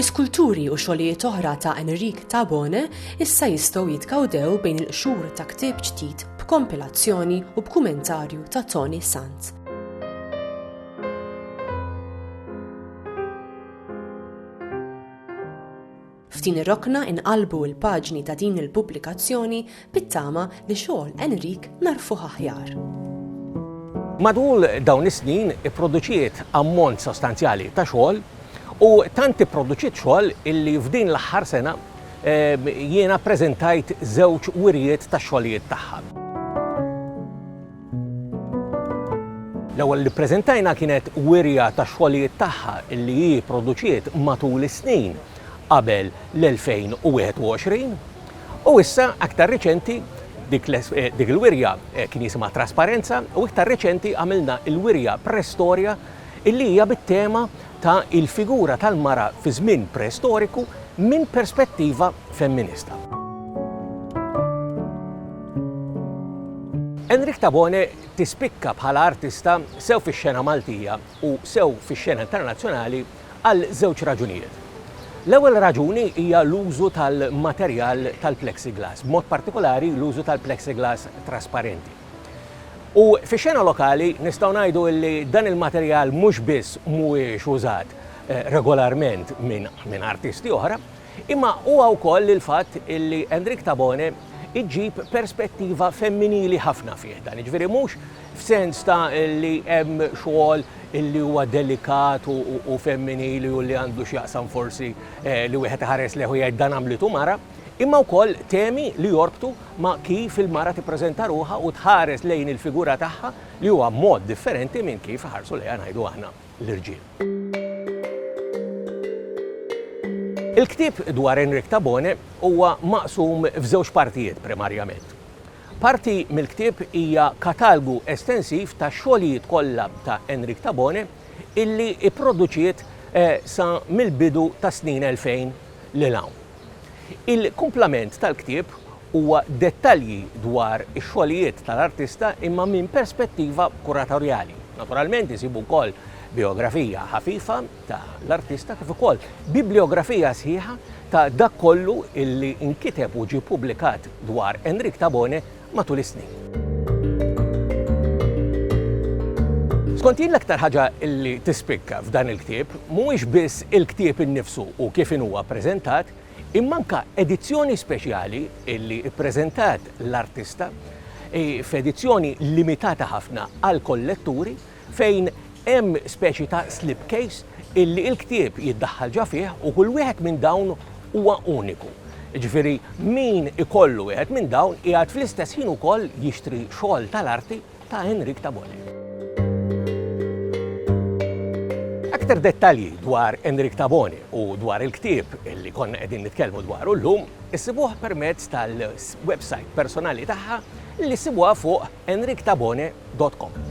L-iskulturi u xogħlijiet oħra ta' Enric Tabone issa jistgħu jitkawdew bejn il-qxur ta' ktieb ġdid b'kompilazzjoni u b'kumentarju ta' Tony Sant. F'din ir-rokna inqalbu l-paġni ta' din il-pubblikazzjoni bit-tama li xogħol Enrique nagħrfuh aħjar. Matul dawn is-snin ipproduċiet ammont sostanzjali ta' xogħol u tant ipproduċiet xogħol illi f'din l-aħħar sena ehm, jiena preżentajt żewġ wirjiet ta' xogħlijiet tagħha. L-ewwel li ppreżentajna kienet wirja tax-xogħlijiet tagħha li hi pproduċiet matul is-snin qabel l-2021 u issa aktar riċenti dik il-wirja kien jisimha Trasparenza u iktar riċenti għamilna l-wirja Prestorja li hija bit-tema ta' il-figura tal-mara fi żmien preistoriku minn perspettiva femminista. Enrique Tabone tispikka bħala artista sew fix-xena Maltija u sew fix-xena internazzjonali għal żewġ raġunijiet. L-ewwel raġuni hija l-użu tal-materjal tal-plexiglass, b'mod partikolari l-użu tal-plexiglass trasparenti. U fix-xena lokali nistgħu ngħidu li dan il-materjal mhux biss mhuwiex użat regolarment minn artisti oħra, imma huwa wkoll il-fatt li Enric Tabone iġġib perspettiva femminili ħafna fih dan, jiġifieri mhux f'sens ta' li hemm xogħol li huwa delikat u femminili u li għandu x'jaqsam forsi li wieħed iħares lejh u jgħid dan għamlitu mara, imma wkoll temi li jorbtu ma' kif il-mara tippreżenta ruħha u tħares lejn il-figura tagħha li huwa mod differenti minn kif iħarsu lejha ngħidu aħna l-irġiel. Il-ktieb dwar Henrique Tabone huwa maqsum f'żewġ partijiet primarjament. Parti mill-ktieb hija katalgu estensiv tax-xogħlijiet kollha ta' Henrique Tabone illi ipproduċiet sa mill-bidu tas-snin 2000 lil hawn. Il-kumplament tal-ktieb huwa dettalji dwar ix-xogħlijiet tal-artista imma minn perspettiva kuratorjali. Naturalment isibu wkoll bijografija ħafifa ta' l-artista kif ukoll bibliografija sħiħa ta' dak kollu illi inkiteb u ġie pubblikat dwar Enric Tabone matul is-snin. Skont jien l-aktar ħaġa li tispikka f'dan il-ktieb mhuwiex biss il-ktieb innifsu u kif inhuwa ppreżentat, imma anke edizzjoni speċjali li ppreżentat l-artista f'edizzjoni limitata ħafna għall-kolletturi fejn hemm speċi ta' slipcase illi l-ktieb jiddaħħal ġa fih u kull wieħed minn dawn huwa uniku. Jiġifieri min ikollu wieħed minn dawn qiegħed fl-istess ħin ukoll jixtri xogħol tal-arti ta' Enric Tabone. Aktar dettalji dwar Enric Tabone u dwar il-ktieb li konna qegħdin nitkellmu dwaru llum issibuh permezz tal-websajt personali tagħha li ssibuha fuq enrictabone.com.